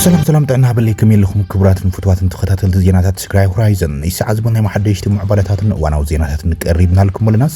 ሰላም ሰላም ጥዕና ሃበለይ ከመይ ኣለኹም ክቡራትን ፍትዋትን ተኸታተልቲ ዜናታት ትግራይ ሆራይዘን ናይ ሰዓት ዝበል ናይ መሓደሽቲ ምዕባለታትን እዋናዊ ዜናታትን ቀሪብናልኩም ኣለና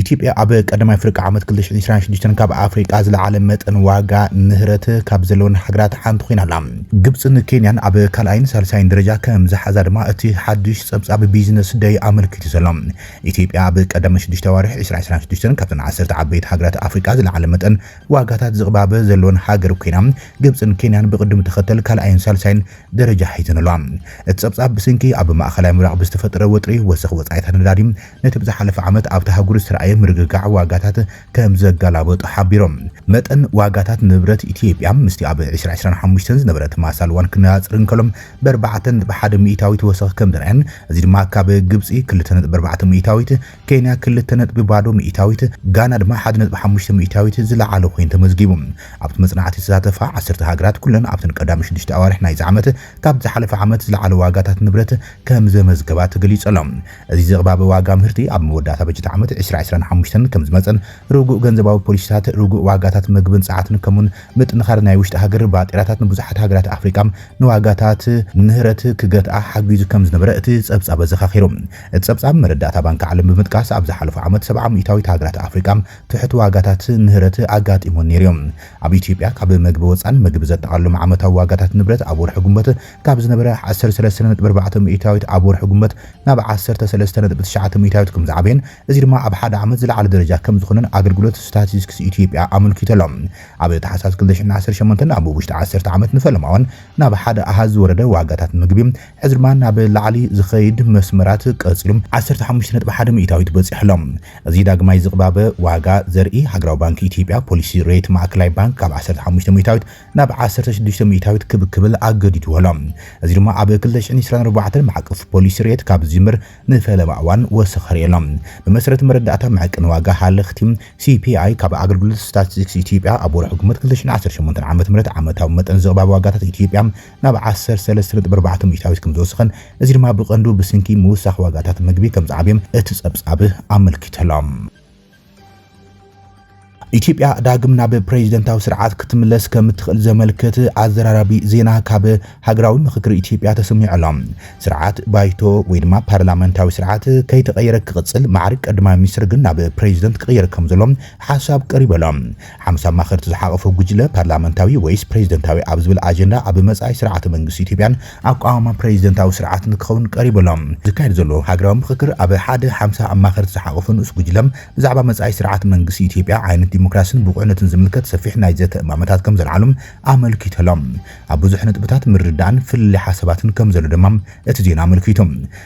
ኢትዮጵያ ኣብ ቀዳማይ ፍርቂ ዓመት ክልተ ሽሕን ዕስራን ሽዱሽተን ካብ ኣፍሪቃ ዝለዓለ መጠን ዋጋ ንህረት ካብ ዘለወን ሃገራት ሓንቲ ኮይና ኣላ። ግብጽን ኬንያን ኣብ ካልኣይን ሳልሳይን ደረጃ ከም ዝሓዛ ድማ እቲ ሓድሽ ጸብጻብ ቢዝነስ ደይ ኣመልኪቱ ዘሎ። ኢትዮጵያ ኣብ ቀዳመ ሽዱሽተ ኣዋርሕ ዕስራ ዕስራን ሽዱሽተን ካብተን ዓሰርተ ዓበይቲ ሃገራት ኣፍሪቃ ዝለዓለ መጠን ዋጋታት ዝቕባበ ዘለወን ሃገር ኮይና፣ ግብጽን ኬንያን ብቕድም ተኸተል ካልኣይን ሳልሳይን ደረጃ ሒዘን ኣለዋ። እቲ ጸብጻብ ብስንኪ ኣብ ማእከላይ ምብራቕ ብዝተፈጠረ ወጥሪ ወሰኽ ወጻኢታት ነዳዲ ነቲ ብዝሓለፈ ዓመት ኣብታ ኣህጉር ዝተራእየ ምርግጋዕ ዋጋታት ከምዘገላበጦ ሓቢሮም። መጠን ዋጋታት ንብረት ኢትዮጵያ ምስቲ ኣብ ዕስራ ዕስራን ሓሙሽተን ዝነበረ ተመሳሳሊ እዋን ክነፃፀር እንከሎ ብኣርባዕተ ነጥቢ ሓደ ሚኢታዊት ወሰኽ ከምዝርኣየን እዚ ድማ ካብ ግብፂ ክልተ ነጥቢ ኣርባዕተ ሚኢታዊት፣ ኬንያ ክልተ ነጥቢ ባዶ ሚኢታዊት፣ ጋና ድማ ሓደ ነጥቢ ሓሙሽተ ሚኢታዊት ዝለዓለ ኮይኑ ተመዝጊቡ። ኣብቲ መፅናዕቲ ዝተሳተፋ ዓሰርተ ሃገራት ኩለን ኣብተን ቀዳሚ ሽዱሽተ ኣዋርሕ ናይዚ ዓመት ካብቲ ዝሓለፈ ዓመት ዝለዓለ ዋጋታት ንብረት ከምዘመዝገባ ተገሊፁ ኣሎ። እዚ ዝቕባበ ዋጋ ምህርቲ ኣብ መወዳእታ በጀት ዓመት ዕስራ ዕስራን ሓሙሽተን ከምዝመፅእን ርጉእ ገንዘባዊ ፖሊሲታት፣ ርጉእ ዋጋታት ምግብን ፀዓትን ከምኡውን ምጥንኻር ናይ ውሽጢ ሃገር ባጤራታት ንብዙሓት ሃገራት ኣፍሪቃ ንዋጋታት ንምህረት ክገትኣ ሓጊዙ ከምዝነበረ እቲ ፀብፃብ ኣዘኻኺሩ። እቲ ፀብፃብ መረዳእታ ባንኪ ዓለም ብምጥቃስ ኣብ ዝሓለፉ ዓመት ሰብዓ ሚኢታዊት ሃገራት ኣፍሪቃ ትሑት ዋጋታት ምህረት ኣጋጢሙወን ነይሩ እዩ። ኣብ ኢትዮጵያ ካብ መግቢ ወፃን ምግቢ ዘጠቓልሎም ዓመታዊ ዋጋታት ንብረት ኣብ ወርሒ ግንቦት ካብ ዝነበረ ዓሰርተ ሰለስተ ነጥቢ ኣርባዕተ ሚኢታዊት ኣብ ወርሒ ግንቦት ናብ ዓሰርተ ሰለስተ ነጥቢ ትሽዓተ ሚእታዊት ከምዝዓበየን እዚ ድማ ኣብ ሓደ ዓመት ዝለዓለ ደረጃ ከምዝኾነን ኣገልግሎት ስታቲስቲክስ ኢትዮጵያ ኣመልኪቱ ኣሎ። ኣብ ታሕሳስ ክልተ ሽሕን ዓሰርተ ሸሞንተን ኣብ ውሽጢ ዓሰርተ ዓመት ንፈለማዋን ናብ ሓደ ኣሃዝ ዝወረደ ዋጋታት ምግቢ ሕዚ ድማ ናብ ላዕሊ ዝኸይድ መስመራት ቀፂሉ ዓሰርተ ሓሙሽተ ነጥቢ ሓደ ሚእታዊት በፂሑ ኣሎ። እዚ ዳግማይ ዝቕባበ ዋጋ ዘርኢ ሃገራዊ ባንኪ ኢትዮጵያ ፖሊሲ ሬት ማእከላይ ባንክ ካብ ዓሰርተ ሓሙሽተ ሚእታዊት ናብ ዓሰርተ ሽዱሽተ ሚእታዊት ክብ ክብል ኣገዲድዎ ኣሎ። እዚ ድማ ኣብ ክልተ ሽሕን ዕስራን ኣርባዕተን ማዕቀፍ ፖሊሲ ሬት ካብ ዝጅምር ንፈለማ እዋን ወሰኸ ርኤ ኣሎ። ብመሰረት መረዳእታ መዐቀኒ ዋጋ ሃለኽቲ፣ CPI፣ ካብ ኣገልግሎት ስታትስቲክስ ኢትዮጵያ ኣብ ወርሒ ግንቦት ክልተ ሽሕን ዓሰርተ ሸሞንተን ዓመተ ምህረት ዓመታዊ መጠን ዝቕባበ ዋጋታት ኢትዮጵያ ናብ ዓሰርተ ሰለስተ ነጥቢ ኣርባዕተ ሚእታዊት ከምዝወሰኸን እዚ ድማ ብቐንዱ ብስንኪ ምውሳኽ ዋጋታት ምግቢ ከምዝዓበየም እቲ ጸብጻብ ኣመልኪቱ ኣሎ። ኢትዮጵያ ዳግም ናብ ፕሬዚደንታዊ ስርዓት ክትምለስ ከምትኽእል ዘመልክት ኣዘራራቢ ዜና ካብ ሃገራዊ ምኽክር ኢትዮጵያ ተሰሚዑ ኣሎ። ስርዓት ባይቶ ወይ ድማ ፓርላመንታዊ ስርዓት ከይተቐየረ ክቕፅል፣ ማዕርግ ቀዳማይ ሚኒስትር ግን ናብ ፕሬዚደንት ክቕየር ከምዘሎ ሓሳብ ቀሪቡ ኣሎ። ሓሙስ ኣማኸርቲ ዝሓቖፈ ጉጅለ፣ ፓርላመንታዊ ወይስ ፕረዚደንታዊ ኣብ ዝብል ኣጀንዳ ኣብ መጻኢ ስርዓተ መንግስቲ ኢትዮጵያን ኣቋውማ ፕረዚደንታዊ ስርዓት ንክኸውን ቀሪቡ ኣሎ። ዝካየድ ዘሎ ሃገራዊ ምኽክር ኣብ ሓደ ሓምሳ ኣማኸርቲ ዝሓቖፈ ንኡስ ጉጅለ ብዛዕባ መጻኢ ስርዓተ መንግስቲ ኢትዮጵያ፣ ዓይነት ዲሞክራሲን ብቑዕነትን ዝምልከት ሰፊሕ ናይ ዘተ እማመታት ከም ዘልዓሉ ኣመልኪቱ ኣሎ። ኣብ ብዙሕ ነጥብታት ምርድዳእን ፍልልይ ሓሳባትን ከም ዘሎ ድማ እቲ ዜና ኣመልኪቱ።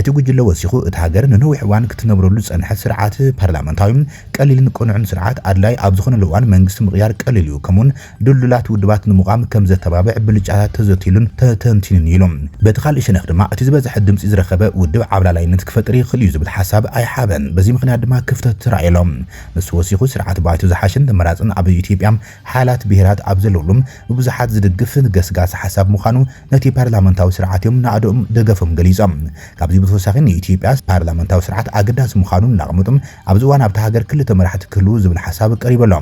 እቲ ጉጅለ ወሲኹ፣ እታ ሃገር ንነዊሕ እዋን ክትነብረሉ ዝጸንሐት ስርዓት ፓርላመንታዊ፣ ቀሊልን ቅኑዕን ስርዓት ኣድላዪ ኣብ ዝኾነሉ እዋን መንግስቲ ምቕያር ቀሊል እዩ፣ ከምኡ'ውን ድልዱላት ውድባት ንምቛም ከም ዘተባብዕ ብልጫታት ተዘትይሉን ተተንቲኑን እዩ ኢሉ። በቲ ካልእ ሸነኽ ድማ እቲ ዝበዝሐ ድምጺ ዝረኸበ ውድብ ዓብላላይነት ክፈጥር ይኽእል እዩ ዝብል ሓሳብ ኣይሓበን፣ በዚ ምኽንያት ድማ ክፍተት ተራእዩ'ሎ። ንሱ ወሲኹ፣ ስርዓት ባይቶ ዝሓሸን ተመራጽን ኣብ ኢትዮጵያ ሓያላት ብሄራት ኣብ ዘለዉሉ፣ ብብዙሓት ዝድግፍ ገስጋሲ ሓሳብ ምዃኑ፣ ነቲ ፓርላመንታዊ ስርዓት'ዮም ናእድኡም ደገፎም ገሊጾም። ካብዚ ብተወሳኺ ንኢትዮጵያ ፓርላመንታዊ ስርዓት ኣገዳሲ ምዃኑ እናቐመጡ፣ ኣብዚ እዋን ኣብታ ሃገር ክልተ መራሕቲ ክህልዉ ዝብል ሓሳብ ቀሪቡ ኣሎ።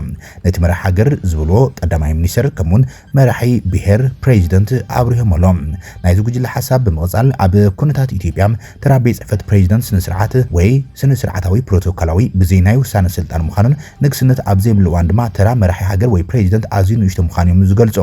ነቲ መራሒ ሃገር ዝብልዎ ቀዳማይ ሚኒስተር ከምኡ'ውን መራሒ ብሄር፣ ፕረዚደንት፣ ኣብሪሆሞ ኣለዉ። ናይዚ ጉጅለ ሓሳብ ብምቕጻል ኣብ ኩነታት ኢትዮጵያ ተራ ቤት ጽሕፈት ፕረዚደንት ስነ-ስርዓት ወይ ስነ-ስርዓታዊ ፕሮቶኮላዊ ብዘይ ናይ ውሳነ ስልጣን ምዃኑን ንግስነት ኣብ ዘይብሉ እዋን ድማ ተራ መራሒ ሃገር ወይ ፕረዚደንት ኣዝዩ ንእሽቶ ምዃኑ'ዮም ዝገልጹ።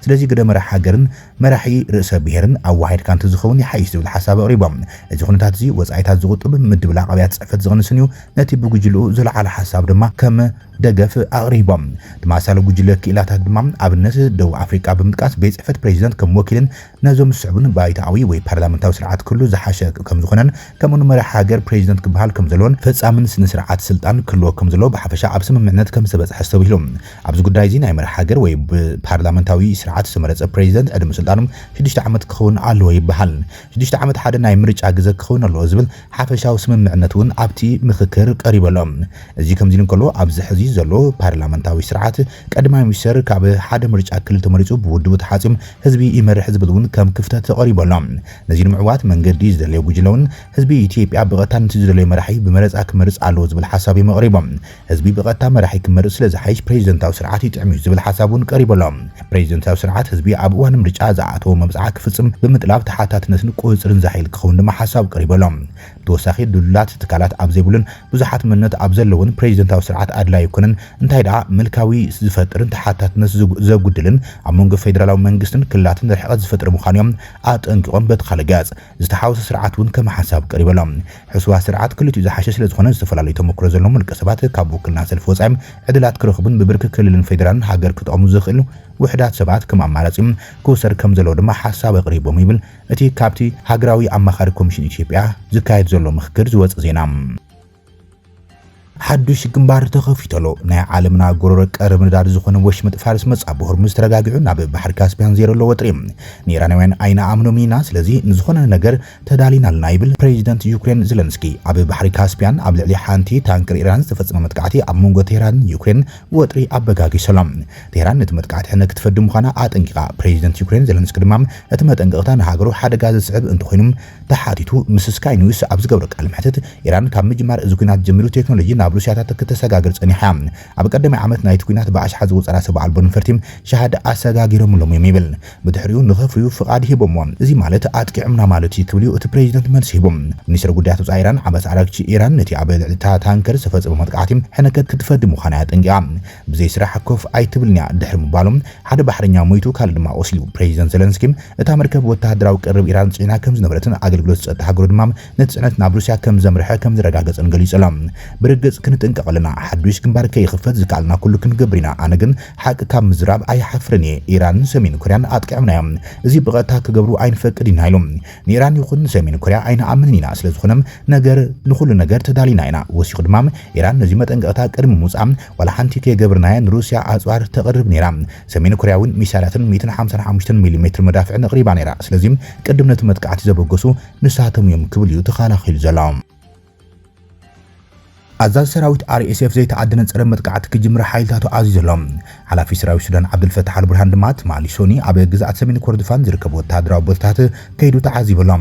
ስለዚ ግደ መራሒ ሃገርን መራሒ ርእሰ ብሔርን ኣወሃሂድካ እንተዝኸውን ይሓይሽ ዝብል ሓሳብ ኣቕሪቦም። እዚ ኩነታት እዚ ወጻኢታት ዝቑጥብ፣ ምድብላቕ ኣብያተ ጽሕፈት ዝቕንስን እዩ፣ ነቲ ብጉጅልኡ ዝለዓለ ሓሳብ ድማ ከም ደገፍ ኣቕሪቦም። ተመሳሳሊ ጉጅለ ክኢላታት ድማ ኣብነት ደቡብ ኣፍሪቃ ብምጥቃስ ቤት ጽሕፈት ፕረዚደንት ከም ወኪልን ነዞም ዝስዕቡን ባይቶኣዊ ወይ ፓርላመንታዊ ስርዓት ክህሉ ዝሓሸ ከምዝኾነን ከምኡ ን መራሒ ሃገር ፕረዚደንት ክበሃል ከምዘለዎን ፈጻምን ስነ ስርዓት ስልጣን ክህልዎ ከምዘለዎ ብሓፈሻ ኣብ ስምምዕነት ከምዝተበጽሐ ኣስተብሂሉ። ኣብዚ ጉዳይ'ዚ ናይ መራሒ ሃገር ወይ ብፓርላመንታዊ ስርዓት ዝተመረጸ ፕረዚደንት ዕድመ ስልጣኑ ሽዱሽተ ዓመት ክኸውን ኣለዎ ይበሃል። ሽዱሽተ ዓመት ሓደ ናይ ምርጫ ግዘ ክኸውን ኣለዎ ዝብል ሓፈሻዊ ስምምዕነት'ውን ኣብቲ ምኽክር ቀሪቡ ኣሎ። እዚ ከምዚ'ሉ እንከሎ ኣብዚ ሕዚ ዘሎ ፓርላመንታዊ ስርዓት ቀዳማይ ሚኒስተር ካብ ሓደ ምርጫ ክልል ተመሪጹ ብውድቡ ተሓጽዩም ህዝቢ ይመርሕ ዝብል'ውን ከም ክፍተት ተቐሪቡ ኣሎ። ነዚ ንምዕዋት መንገዲ ዝደለየ ጉጅለ'ውን ህዝቢ ኢትዮጵያ ብቐጥታ ነቲ ዝደለዮ መራሒ ብመረጻ ክመርጽ ኣለዎ ዝብል ሓሳብ'ዮም ኣቕሪቦም። ህዝቢ ብቐጥታ መራሒ ክመርጽ ስለ ዝሓይሽ ፕረዚደንታዊ ስርዓት ይጥዕም'ዩ ዝብል ሓሳብ እውን ቀሪቡ ኣሎ። ፕረዚደንታዊ ስርዓት ህዝቢ ኣብ እዋን ምርጫ ዝኣእተዎ መብጽዓ ክፍጽም ብምጥላብ ተሓታትነትን ቁጽጽርን ዘሐይል ክኸውን ድማ ሓሳብ ቀሪቡ ኣሎ። ብተወሳኺ ድልዱላት ትካላት ኣብ ዘይብሉን ብዙሓት መንነት ኣብ ዘለዎን ፕረዚደንታዊ ስርዓት ኣድላዪ ኣይኮነን፣ እንታይ ደኣ ምልካዊ ዝፈጥርን ተሓታትነት ዘጉድልን ኣብ መንጎ ፌደራላዊ መንግስትን ክልላትን ርሕቐት ዝፈጥር ምዃኑ'ዮም ኣጠንቂቖም በቲ ካልእ ገጽ ዝተሓወሶ ስርዓት እውን ከም ሓሳብ ቀሪቡ ኣሎ። ሕሱራት ስርዓት ክልቲኡ ዝሓሸ ስለዝኾነ ዝተፈላለዩ ተሞክሮ ዘለዎም ውልቀሰባት ካብ ውክልና ሰልፊ ወፃኢ ዕድላት ክረኽቡን ብብርኪ ክልልን ፌዴራልን ሃገር ክጠቕሙ ዝኽእሉ ውሕዳት ሰባት ከም ኣማራፂ ክውሰድ ከምዘለዎ ድማ ሓሳብ ኣቕሪቦም ይብል እቲ ካብቲ ሃገራዊ ኣማኻሪ ኮሚሽን ኢትዮጵያ ዝካየድ ዘሎ ምኽክር ዝወፀ ዜና። ሓዱሽ ግንባር ተኸፊተሎ ናይ ዓለምና ጎረሮ ቀርብ ንዳድ ዝኾነ ወሽመጥ ፋርስ መጻ ብሆርሙዝ ተረጋጊዑ ናብ ባሕሪ ካስፒያን ዜረሎ ወጥሪ ንኢራናውያን ኣይንኣምኖም ኢና ስለዚ ንዝኾነ ነገር ተዳሊና ኣለና ይብል ፕሬዚደንት ዩክሬን ዘለንስኪ ኣብ ባሕሪ ካስፒያን ኣብ ልዕሊ ሓንቲ ታንክር ኢራን ዝተፈጸመ መጥቃዕቲ ኣብ መንጎ ቴህራንን ዩክሬን ወጥሪ ኣበጋጊሰሎ ቴህራን ነቲ መጥቃዕቲ ሕነ ክትፈዲ ምዃና ኣጠንቂቓ ፕሬዚደንት ዩክሬን ዘለንስኪ ድማ እቲ መጠንቀቕታ ንሃገሩ ሓደጋ ዘስዕብ እንተኾይኑ ተሓቲቱ ምስ ስካይ ኒውስ ኣብ ዝገብሮ ቃለ መሕትት፣ ኢራን ካብ ምጅማር እዚ ኲናት ጀሚሩ ቴክኖሎጂ ናብ ሩስያታት ክተሰጋግር ጸኒሓ እያ። ኣብ ቀዳማይ ዓመት ናይቲ ኲናት ብኣሽሓት ዝቑጸራ ሰብ ኣልቦ ነፈርቲ ሻህዳ ኣሰጋጊሮምሎም እዮም ይብል። ብድሕሪኡ ንኸፍርዩ ፍቓድ ሂቦምዎም። እዚ ማለት ኣጥቂዖምና ማለት እዩ ክብል'ዩ እቲ ፕረዚደንት መልሲ ሂቡ። ሚኒስተር ጉዳያት ወጻኢ ኢራን ዓባስ ኣራግቺ፣ ኢራን ነቲ ኣብ ልዕሊ'ታ ታንከር ዝተፈጸመ መጥቃዕቲ ሕነ ከትፈዲ ምዃና'ያ ኣጠንቂቓ። ብዘይ ስራሕ ኮፍ ኣይትብልን'ያ ድሕሪ ምባሎም፣ ሓደ ባሕረኛ ሞይቱ ካልእ ድማ ቆሲሉ። ፕረዚደንት ዘለንስኪ፣ እታ መርከብ ወተሃደራዊ ቀረብ ኢራን ጽዒና ከም ዝነበረትን ኣገልግሎት ጸጥታ ሃገሩ ድማ ነቲ ጽዕነት ናብ ሩስያ ከም ዘምርሐ ከም ዘረጋገጸን ገሊጹ ኣሎ። ብርግጽ ክንጥንቀቕ ኣለና፣ ሓዱሽ ግንባር ከይኽፈት ዝከኣለና ኩሉ ክንገብር ኢና፣ ኣነ ግን ሓቂ ካብ ምዝራብ ኣይሓፍርን እየ፣ ኢራንን ሰሜን ኮርያን ኣጥቂዖምና እዮም፣ እዚ ብቐጥታ ክገብሩ ኣይንፈቅድን ኢና ኢሉ። ንኢራን ይኹን ንሰሜን ኮርያ ኣይንኣምንን ኢና፣ ስለዝኾነ ነገር ንኹሉ ነገር ተዳሊና ኢና፣ ወሲኹ ድማ ኢራን ነዚ መጠንቀቕታ ቅድሚ ምውጽኣ ዋላ ሓንቲ ከይገብርናያ ንሩስያ ኣጽዋር ተቕርብ ነይራ፣ ሰሜን ኮርያ እውን ሚሳይላትን ሚእትን ሓምሳን ሓሙሽተን ሚሊሜትር መዳፍዕን ኣቕሪባ ነይራ፣ ስለዚ ቅድም ነቲ መጥቃዕቲ ዘበገሱ ንሳቶም እዮም ክብል እዩ ተኻላኺሉ ዘሎ። ኣዛዚ ሰራዊት RSF ዘይተኣደነ ጸረ መጥቃዕቲ ክጅምር ሓይልታቱ ኣዚዙ ኣሎ። ሓላፊ ሰራዊት ሱዳን ዓብደልፈታሕ ኣልቡርሃን ድማ ትማሊ ሶኒ ኣብ ግዝኣት ሰሜን ኮርዶፋን ዝርከቡ ወተሃደራዊ ቦታታት ከይዱ ተዓዚቡ ኣሎ።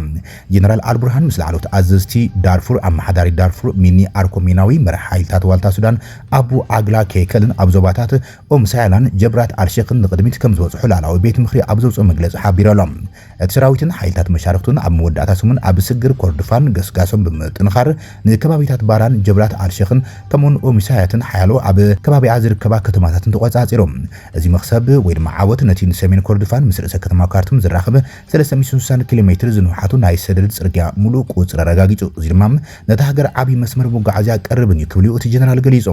ጀነራል ኣልቡርሃን ምስ ላዕለዎት ኣዘዝቲ ዳርፉር፣ ኣመሓዳሪ ዳርፉር ሚኒ ኣርኮ ሚናዊ፣ መራሒ ሓይልታት ዋልታ ሱዳን ኣቡ ዓግላ ኬከልን ኣብ ዞባታት ኡም ሳያላን ጀብራት ኣልሼኽን ንቕድሚት ከምዝበጽሑ ላዕላዊ ቤት ምኽሪ ኣብ ዘውጽኦ መግለጺ ሓቢሩ ኣሎ። እቲ ሰራዊትን ሓይልታት መሻርኽቱን ኣብ መወዳእታ ሰሙን ኣብ ስግር ኮርድፋን ገስጋሶም ብምጥንኻር ንከባቢታት ባራን ጀብላት ኣልሸኽን ከምኡውን ኡሚሳያትን ሓያሎ ኣብ ከባቢኣ ዝርከባ ከተማታትን ተቖጻጺሮም። እዚ መኽሰብ ወይ ድማ ዓወት ነቲ ንሰሜን ኮርድፋን ምስ ርእሰ ከተማ ካርቱም ዘራኽብ ሰለስተ ሚእትን ስሳን ኪሎ ሜትር ዝንውሓቱ ናይ ሰደድ ጽርግያ ምሉእ ቁጽሪ ኣረጋጊጹ፣ እዚ ድማ ነታ ሃገር ዓቢ መስመር መጓዓዝያ ቀርብን እዩ ክብል'ዩ እቲ ጀነራል ገሊጹ።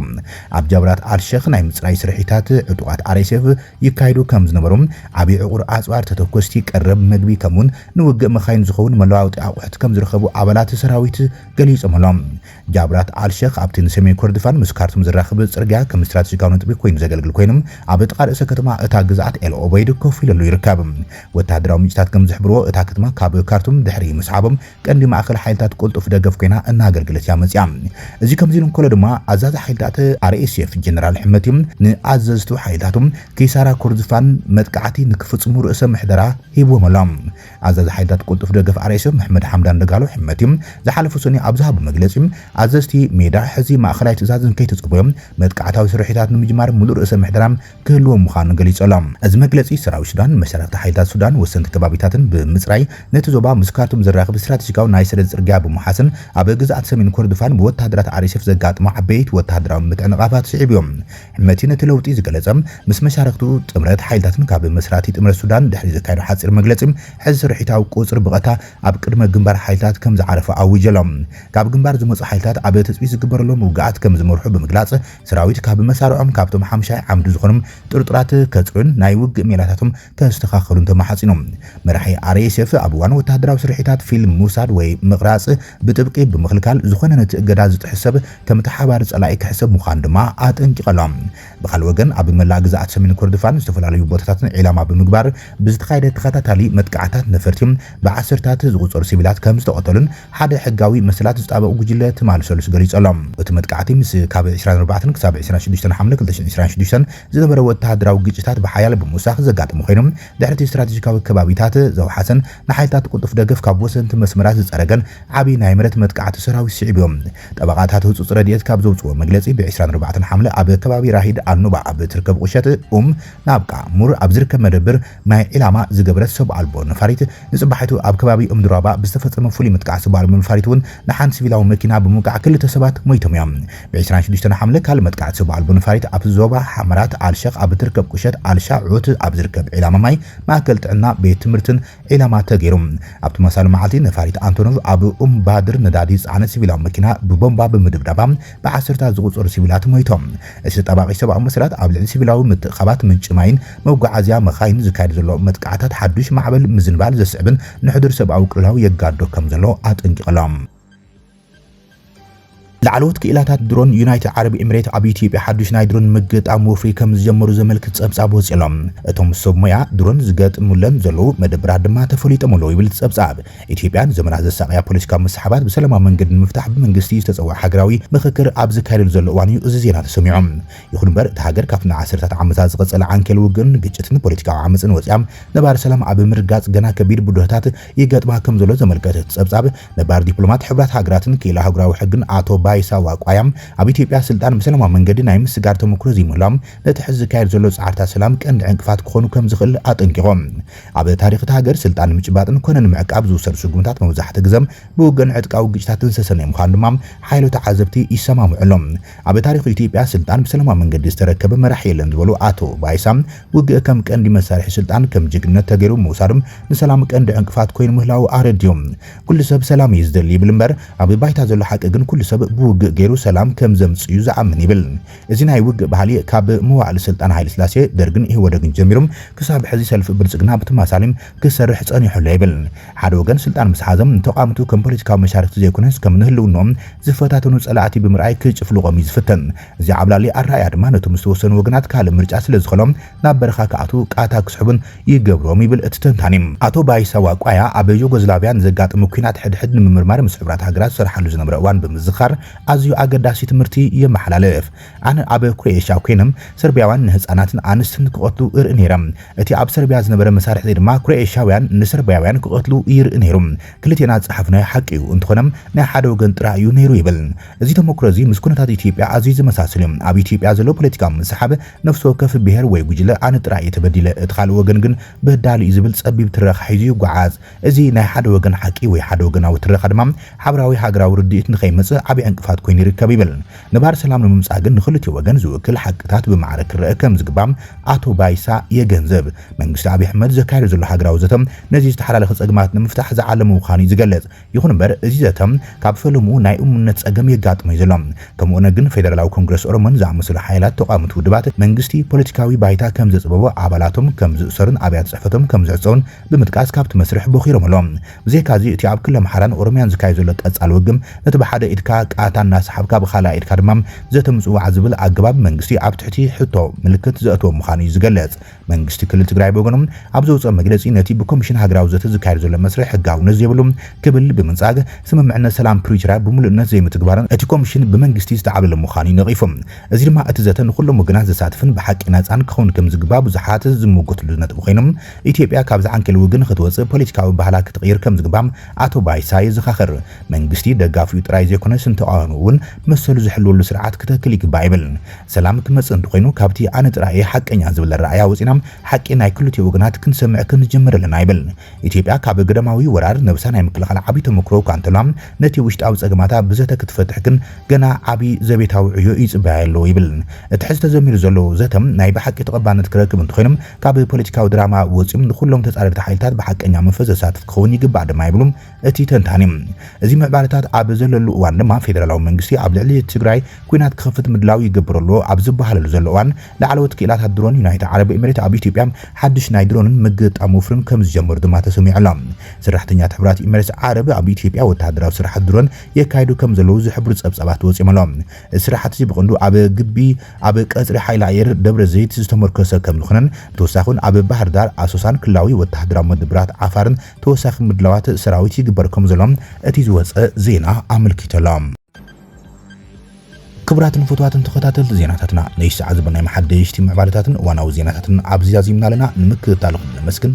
ኣብ ጃብላት ኣልሸኽ ናይ ምጽራይ ስርሒታት ዕጡቓት RSF ይካየዱ ከም ዝነበሩ፣ ዓቢ ዕቑር ኣጽዋር፣ ተተኮስቲ፣ ቀረብ መግቢ ከምኡ'ውን ንውግእ መካይን ዝኸውን መለዋወጢ ኣቑሑት ከም ዝረኸቡ ኣባላት ሰራዊት ገሊጾምሎም። ጃብራት ኣል-ሸኽ ኣብቲ ንሰሜን ኮርዶፋን ምስ ካርቱም ዘራኽብ ጽርግያ ከም ስትራተጂካዊ ነጥቢ ኰይኑ ዘገልግል ኰይኑ፣ ኣብ ጥቓ ርእሰ ከተማ እታ ግዝኣት ኤል ኦበይድ ኮፍ ኢሉሉ ይርከብ። ወተሃደራዊ ምንጭታት ከም ዝሕብርዎ፣ እታ ከተማ ካብ ካርቱም ድሕሪ ምስዓቦም፣ ቀንዲ ማእከል ሓይልታት ቅልጡፍ ደገፍ ኮይና እናኣገልገለት እያ መጺኣ። እዚ ከምዚ ኢሉ እንከሎ ድማ ኣዛዚ ሓይልታት RSF ጀነራል ሕመቲ ንኣዘዝቱ ሓይልታቱ ኪሳራ ኩርዝፋን መጥቃዕቲ ንክፍጽሙ ርእሰ ምሕደራ ሂብዎም ኣሎ። ኣዛዚ ሓይልታት ቅልጡፍ ደገፍ RSF መሕመድ ሓምዳን ደጋሎ ሕመቲ ዝሓለፈ ሰኑይ ኣብ ዝሃቦ መግለጺ ኣዘዝቲ ሜዳ ሕዚ ማእከላይ ትእዛዝ እንከይተጸበዮም መጥቃዕታዊ ስርሒታት ንምጅማር ምሉእ ርእሰ ምሕደራ ክህልዎም ምዃኑ ገሊጹ ኣሎ። እዚ መግለጺ፣ ሰራዊት ሱዳን፣ መሻርኽቲ ሓይልታት ሱዳን፣ ወሰንቲ ከባቢታትን ብምጽራይ፣ ነቲ ዞባ ምስ ካርቱም ዘራኽብ ስትራተጂካዊ ናይ ሰደድ ጽርግያ ብምውሓስን ኣብ ግዝኣት ሰሜን ኮርዶፋን ብወተሃደራት ኣርኤስኤፍ ዘጋጠሞ ዓበይቲ ወተሃደራዊ ምትዕንቓፋት ስዒቡ'ዩ። ሕመቲ ነቲ ለውጢ ዝገለጸ፣ ምስ መሻርኽቱ ጥምረት ሓይልታትን ካብ መስራቲ ጥምረት ሱዳን ድሕሪ ዘካየዶ ሓጺር መግለጺ፣ ሕዚ ስርሒታዊ ቁጽሪ ብቐታ ኣብ ቅድመ ግንባር ሓይልታት ከም ዝዓረፈ ኣዊጁ ኣሎ። ካብ ግንባር ዝመጹ ሓይልታት ኣብ ትጽቢት ዝግበረሎም ውግኣት ከም ዝመርሑ ብምግላጽ፣ ሰራዊት ካብ መሳርዖም ካብቶም ሓምሻይ ዓምዲ ዝኾኑ ጥርጡራት ከጽርዩን ናይ ውግእ ሜላታቶም ከስተኻኸሉን ተማሕጺኑ። መራሒ RSF ኣብ እዋን ወተሃደራዊ ስርሒታት ፊልም ምውሳድ ወይ ምቕራጽ ብጥብቂ ብምኽልካል፣ ዝኾነ ነቲ እገዳ ዝጥሕስ ሰብ ከም ተሓባሪ ጸላኢ ክሕሰብ ምዃኑ ድማ ኣጠንቂቐ ኣሎ። ብኻልእ ወገን ኣብ መላእ ግዝኣት ሰሜን ኮርዶፋን ዝተፈላለዩ ቦታታትን ዒላማ ብምግባር ብዝተኻየደ ተኸታታሊ መጥቃዕታት ነፈርቲ ብዓሰርታት ዝቑጸሩ ሲቪላት ከምዝተቐተሉን ሓደ ሕጋዊ መሰላት ዝጣበቕ ጉጅለ ትማሊ ሰሉስ ገሊጹ'ሎ። እቲ መጥቃዕቲ ምስ ካብ ዕስራን ኣርባዕተን ክሳብ ዕስራን ሽዱሽተን ሓምለ ክልተ ሽሕን ዕስራን ሽዱሽተን ዝነበረ ወተሃደራዊ ግጭታት ብሓያል ብምውሳኽ ዘጋጠመ ኮይኑ፣ ድሕሪ'ቲ ስትራተጂካዊ ከባቢታት ዘውሓሰን ንሓይልታት ቅልጡፍ ደገፍ ካብ ወሰንቲ መስመራት ዝጸረገን ዓቢ ናይ መሬት መጥቃዕቲ ሰራዊት ስዒቡ'ዩ። ጠበቓታት ህጹጽ ረድኤት ካብ ዘውጽእዎ መግለጺ ብዕስራን ኣርባዕተን ሓምለ ኣብ ከባቢ ራሂድ ኣል-ኑባ ኣብ እትርከብ ቁሸት ኡም ናብቃ፣ ሙር፣ ኣብ ዝርከብ መደብር ናይ ዒላማ ዝገበረት ሰብ ኣልቦ ነፋሪት ንጽባሒቱ ኣብ ከባቢ እምዱራባ ብዝተፈጸመ ፍሉይ ምጥቃዕ ሰብ ኣልቦ ነፋሪት እውን ንሓንቲ ሲቪላዊ መኪና ብምውቃዕ ክልተ ሰባት ሞይቶም እዮም። ብ ዕስራን ሽዱሽተን ሓምለ ካልእ መጥቃዕቲ ሰብ ኣልቦ ነፋሪት ኣብ ዞባ ሓመራት ኣልሸኽ ኣብ እትርከብ ቁሸት ኣልሻዑት ኣብ ዝርከብ ዒላማ ማይ፣ ማእከል ጥዕና፣ ቤት ትምህርትን ዒላማ ተገይሩ። ኣብ ተመሳሳሊ መዓልቲ ነፋሪት ኣንቶኖቭ ኣብ ኡምባድር ነዳዲ ዝጸዓነት ሲቪላዊ መኪና ብቦምባ ብምድብዳባ ብዓሰርታት ዝቑጸሩ ሲቪላት ሞይቶም። እቲ ተጣባቒ ሰብኣዊ መሰላት ኣብ ልዕሊ ሲቪላዊ ምትእኽኻባት ምንጪ ማይን መጓዓዝያ መካይንን ዝካየድ ዘሎ መጥቃዕታት ሓዱሽ ማዕበል ምዝንባል ዘስዕብን ንሕዱር ሰብኣዊ ቅልውላው የጋድዶ ከም ዘሎ ኣጠንቂቑ ኣሎ። ላዕለዎት ክኢላታት ድሮን ዩናይትድ ዓረብ ኤምሬት ኣብ ኢትዮጵያ ሓዱሽ ናይ ድሮን ምግጣም ወፍሪ ከም ዝጀመሩ ዘመልክት ጸብጻብ ወጺኡ ኣሎ። እቶም ሰብ ሞያ ድሮን ዝገጥሙለን ዘለዉ መደብራት ድማ ተፈሊጦም ኣለዉ ይብል እቲ ጸብጻብ። ኢትዮጵያ ንዘመናት ዘሳቐያ ፖለቲካዊ ምስሕባት ብሰላማዊ መንገዲ ንምፍታሕ ብመንግስቲ ዝተጸውዐ ሃገራዊ ምኽክር ኣብ ዝካየደሉ ዘሎ እዋን'ዩ እዚ ዜና ተሰሚዑ። ይኹን'ምበር እታ ሃገር ካብቲ ንዓሰርታት ዓመታት ዝቐጸለ ዓንኬል ውግእን ግጭትን ፖለቲካዊ ዓመጽን ወጺኣ ነባሪ ሰላም ኣብ ምርጋጽ ገና ከቢድ ብድሆታት ይገጥማ ከምዘሎ ዘመልከተ እቲ ጸብጻብ ነባር ዲፕሎማት ሕቡራት ሃገራትን ክኢላ ኣህጉራዊ ሕግን ኣቶ ባይሳ ዋቋያ ኣብ ኢትዮጵያ ስልጣን ብሰላማዊ መንገዲ ናይ ምስጋር ተመኩሮ ዘይምህላው ነቲ ሕዚ ዝካየድ ዘሎ ጻዕርታት ሰላም ቀንዲ ዕንቅፋት ክኾኑ ከምዝኽእል ኣጠንቂቖም። ኣብ ታሪኽ እታ ሃገር ስልጣን ንምጭባጥን ኮነ ንምዕቃብ ዝውሰድ ስጉምታት መብዛሕቲ ግዘ ብውግእን ዕጥቃዊ ግጭታትን ዝተሰነየ ምዃኑ ድማ ሓያሎ ተዓዘብቲ ይሰማምዕሉ። ኣብ ታሪኽ ኢትዮጵያ ስልጣን ብሰላማዊ መንገዲ ዝተረከበ መራሒ የለን ዝበሉ ኣቶ ባይሳ፣ ውግእ ከም ቀንዲ መሳርሒ ስልጣን ከም ጅግንነት ተገይሩ ምውሳዱ ንሰላም ቀንዲ ዕንቅፋት ኮይኑ ምህላዉ ኣረዲኡ። ኩሉ ሰብ ሰላም እዩ ዝደሊ ይብል እምበር ኣብ ባይታ ዘሎ ሓቂ ግን ኩሉ ሰብ ብውግእ ገይሩ ሰላም ከም ዘምፅእ እዩ ዝኣምን ይብል። እዚ ናይ ውግእ ባህሊ ካብ መዋዕለ ስልጣን ሃይለስላሴ፣ ደርግን ኢህወደግን ጀሚሩ ክሳብ ሕዚ ሰልፊ ብልጽግና ብተመሳሳሊ ክሰርሕ ጸኒሑ ኣሎ ይብል። ሓደ ወገን ስልጣን ምስ ሓዘ፣ ንተቓወምቱ ከም ፖለቲካዊ መሻርኽቲ ዘይኮነስ ከም ንህልውንኦም ዝፈታተኑ ጸላእቲ ብምርኣይ ክጭፍልቖም እዩ ዝፍትን። እዚ ዓብላሊ ኣረኣእያ ድማ ነቶም ዝተወሰኑ ወገናት ካልእ ምርጫ ስለዝኸሎም፣ ናብ በረኻ ክኣትዉ ቃታ ክስሕቡን ይገብሮም ይብል እቲ ተንታኒ። ኣቶ ባይሳ ዋቋያ ኣብ ዩጎዝላቭያ ንዘጋጠመ ኲናት ሕድሕድ ንምምርማር ምስ ሕብራት ሃገራት ዝሰርሓሉ ዝነበረ እዋን ብምዝኻር ኣዝዩ ኣገዳሲ ትምህርቲ የመሓላልፍ። ኣነ ኣብ ክሮኤሽያ ኰይነ ሰርብያውያን ንህጻናትን ኣንስትን ክቐትሉ እርኢ ነይረ። እቲ ኣብ ሰርብያ ዝነበረ መሳርሕ'ዚ ድማ ክሮኤሽያውያን ንሰርብያውያን ክቐትሉ ይርኢ ነይሩ። ክልቴና ዝጸሓፍናዮ ሓቂ'ዩ፣ እንተዀነ ናይ ሓደ ወገን ጥራይ'ዩ ነይሩ ይብል። እዚ ተመክሮ'ዚ ምስ ኵነታት ኢትዮጵያ ኣዝዩ ዝመሳሰል'ዩ። ኣብ ኢትዮጵያ ዘሎ ፖለቲካዊ ምስሕሓብ ነፍሲ ወከፍ ብሄር ወይ ጉጅለ ኣነ ጥራይ እየ ተበዲለ፣ እቲ ካልእ ወገን ግን በዳሊ እዩ ዝብል ጸቢብ ትረኻ ሒዙ ይጓዓዝ። እዚ ናይ ሓደ ወገን ሓቂ ወይ ሓደ ወገናዊ ትረኻ ድማ ሓብራዊ ሃገራዊ ርድኢት ንኸይመጽእ ዓቢ ዕንቅፋት ኮይኑ ይርከብ ይብል። ነባሪ ሰላም ንምምጻእ ግን ንኽልቲኡ ወገን ዝውክል ሓቅታት ብማዕረ ክረኣ ከም ዝግባእ ኣቶ ባይሳ የገንዝብ። መንግስቲ ኣብይ ኣሕመድ ዘካይዶ ዘሎ ሃገራዊ ዘተ ነዚ ዝተሓላለኸ ጸገማት ንምፍታሕ ዝዓለመ ምዃኑ እዩ ዝገልጽ። ይኹን እምበር እዚ ዘተ ካብ ፈለምኡ ናይ እሙንነት ጸገም የጋጥሞ'ዩ ዘሎ። ከምኡ'ውን ግን ፌደራላዊ ኮንግረስ ኦሮሞን ዝኣመሰሉ ሓይላት ተቓወምቲ ውድባት፣ መንግስቲ ፖለቲካዊ ባይታ ከም ዘጽበቦ፣ ኣባላቶም ከም ዝእሰሩን ኣብያተ ጽሕፈቶም ከም ዝዕጸዉን ብምጥቃስ ካብቲ መስርሕ ቦኺሮም ኣለዉ። ብዘይካ'ዚ እቲ ኣብ ክሊ ኣምሓራን ኦሮምያን ዝካየድ ዘሎ ቀጻሊ ውግም ነቲ ብሓደ ኢድካ ቃታ እናሰሓብካ ብኻልኣይ ኢድካ ድማ ዘተ ምጽዋዕ ዝብል ኣገባብ መንግስቲ ኣብ ትሕቲ ሕቶ ምልክት ዘእተወ ምዃኑ'ዩ ዝገልጽ። መንግስቲ ክልል ትግራይ ብወገኑ ኣብ ዘውፀኦ መግለፂ ነቲ ብኮሚሽን ሃገራዊ ዘተ ዝካየድ ዘሎ መስርሕ ሕጋውነት ዘይብሉ ክብል ብምንፃግ ስምምዕነት ሰላም ፕሪቶርያ ብሙሉእነት ዘይምትግባርን እቲ ኮሚሽን ብመንግስቲ ዝተዓብለለ ምዃኑ እዩ ነቒፉ። እዚ ድማ እቲ ዘተ ንኹሎም ወገናት ዘሳትፍን ብሓቂ ናፃን ክኸውን ከምዝግባእ ብዙሓት ዝምጉትሉ ነጥቢ ኮይኑ ኢትዮጵያ ካብዚ ዓንኬል ውግእ ንኽትወፅእ ፖለቲካዊ ባህላ ክትቕይር ከምዝግባእ ኣቶ ባይሳ የዘኻኽር። መንግስቲ ደጋፊኡ ጥራይ ዘይኮነስ ንተቓዋሚኡ እውን መሰሉ ዝሕልወሉ ስርዓት ክተክል ይግባእ ይብል። ሰላም ክመጽእ እንተኾይኑ ካብቲ ኣነ ጥራይ እየ ሓቀኛ ዝብል ኣረኣእያ ወጺእና ሓቂ ናይ ክልቲኡ ወገናት ክንሰምዕ ክንጅምር ኣለና ይብል። ኢትዮጵያ ካብ ግዳማዊ ወራር ነብሳ ናይ ምክልኻል ዓቢ ተመኩሮ እኳ እንተልዋ ነቲ ውሽጣዊ ጸገማታ ብዘተ ክትፈትሕ ግን ገና ዓቢ ዘቤታዊ ዕዮ ይጽበያዮ ኣሎ ይብል። እቲ ሕዚ ተዘሚሩ ዘሎ ዘተ ናይ ብሓቂ ተቐባልነት ክረክብ እንተኾይኑ ካብ ፖለቲካዊ ድራማ ወጺኡ ንኹሎም ተጻረርቲ ሓይልታት ብሓቀኛ መንፈስ ዘሳትፍ ክኸውን ይግባእ ድማ ይብሉ እቲ ተንታኒ፣ እዚ ምዕባለታት ኣብ ዘለሉ እዋን ድማ ፌደራላዊ መንግስቲ ኣብ ልዕሊ ትግራይ ኲናት ክኸፍት ምድላው ይገብር ኣሎ ኣብ ዝበሃለሉ ዘሎ እዋን፣ ላዕለዎት ክኢላታት ድሮን ዩናይትድ ዓረብ ኤምሬት ኣብ ኢትዮጵያ ሓድሽ ናይ ድሮንን ምግጣም ወፍርን ከምዝጀመሩ ድማ ተሰሚዑ ኣሎ። ሰራሕተኛታት ሕቡራት ኤምሬትስ ዓረብ ኣብ ኢትዮጵያ ወተሃደራዊ ስራሓት ድሮን የካይዱ ከምዘለዉ ዝሕብሩ ጸብጻባት ወጺኦም ኣለዉ። እዚ ስራሕቲ'ዚ ብቐንዱ ኣብ ግቢ ኣብ ቀጽሪ ሓይሊ ኣየር ደብረዘይት ዝተሞርከሰ ከምዝኾነን ብተወሳኺ'ውን ኣብ ባህርዳር፣ ኣሶሳን ክልላዊ ወተሃደራዊ መደበራት ዓፋርን ተወሳኺ ምድላዋት ሰራዊት ይግበር ከምዘሎ እቲ ዝወጸ ዜና ኣመልኪቱ'ሎ። ክቡራትን ፍቱዋትን ተኸታተልቲ ዜናታትና ነዚ ሰዓት ዝበልናዮም ሓደሽቲ ምዕባለታትን እዋናዊ ዜናታትን ኣብዚ ዛዚምና ኣለና። ንምክትታልኹም ነመስግን።